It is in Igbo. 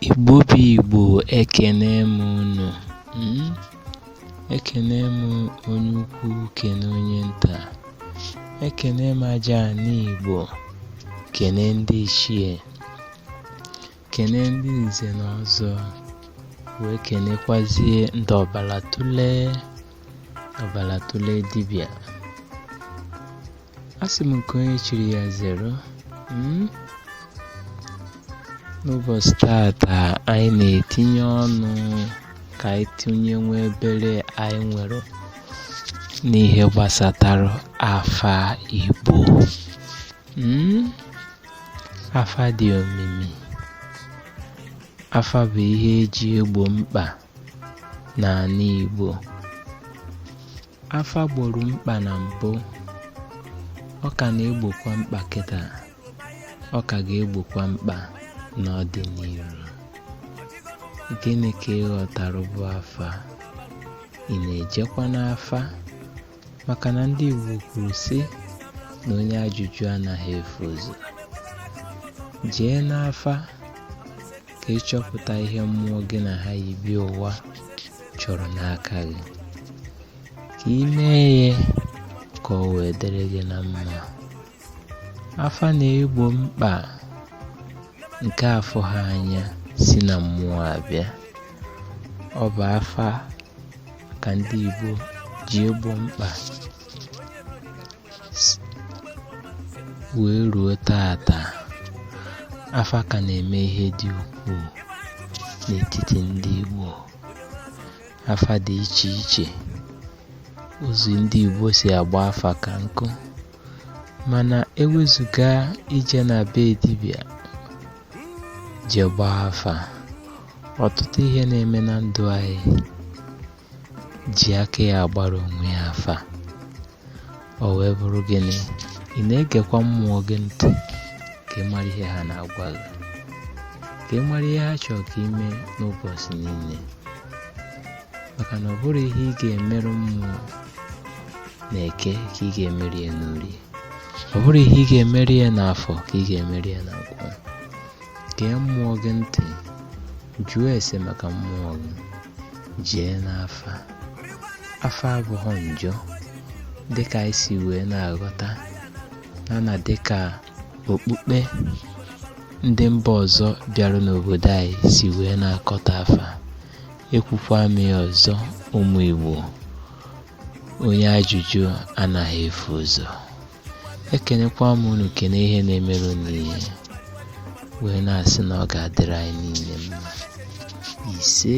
Igbo bụ Igbo ekene m unu hmm? ekene m onye ukwu kene onye nta ekene m aja ana Igbo kene ndị ichie kene ndị nze na ọzọ wee kenekwazie ndị ọbala otule ọbala otule dibịa asị m nke onye chiri ya zeru hmm? n'ụbọchị tata anyị na-etinye ọnụ ka anyị tinye nwa obere anyị nwere n'ihe gbasatara afa Igbo hmm? afa dị omimi afa bụ ihe e ji egbo mkpa n'ana Igbo. Afa gboro mkpa na mbụ, ọ ka na-egbokwa mkpa kịta, ọ ka ga-egbokwa mkpa n'ọdịnihu. Gịnị ka ị ghọtara bụ afa? Ị na-ejekwa n'afa? maka na ndị Igbo kwuru sị na onye ajụjụ anaghị efu ụzọ jee n'afa ka ị chọpụta ihe mmụọ gị na ha yi bịa ụwa chọrọ n'aka gị ka ị mee ya ka o wee dịrị gị na mma afa na-egbo mkpa nke a fụhọ anya si na mmụọ abịa ọ bụ afa ka ndị Igbo ji egbo mkpa wee ruo tata afa ka na-eme ihe dị ukwuu n'etiti ndị Igbo afa dị iche iche ụzọ ndị Igbo si agba afa ka nkụ mana ewezụga ije na be dibịa je gbaa afa ọtụtụ ihe na-eme na ndụ anyị ji aka ya agbara onwe ya afa o wee bụrụ gịnị ị na-egekwa mmụọ gị ntị ka ị mara ihe ha na-agwa gị ka ị mara ihe ha chọrọ ka ị mee n'ụbọchị niile maka na ọ bụrọ ihe ị ga-emere mmụọ n'eke ka ị ga-emere ya n'orie ọ bụrọ ihe ị ga-emere ya n'afọ ka ị ga-emere ya na nkwọ gee mmụọ gị ntị jụọ ese maka mmụọ gị jee n'afa afa abụhọ njọ dịka anyị si wee na-aghọta na na dịka okpukpe ndị mba ọzọ bịara n'obodo anyị si wee na-akọtọ afa ekwukwa m ya ọzọ ụmụ Igbo onye ajụjụ anaghị efu ụzọ ekenekwa m unu kene ihe na-emere unu ihe wee na-asị na ọ ga-adịrị anyị niile mma ise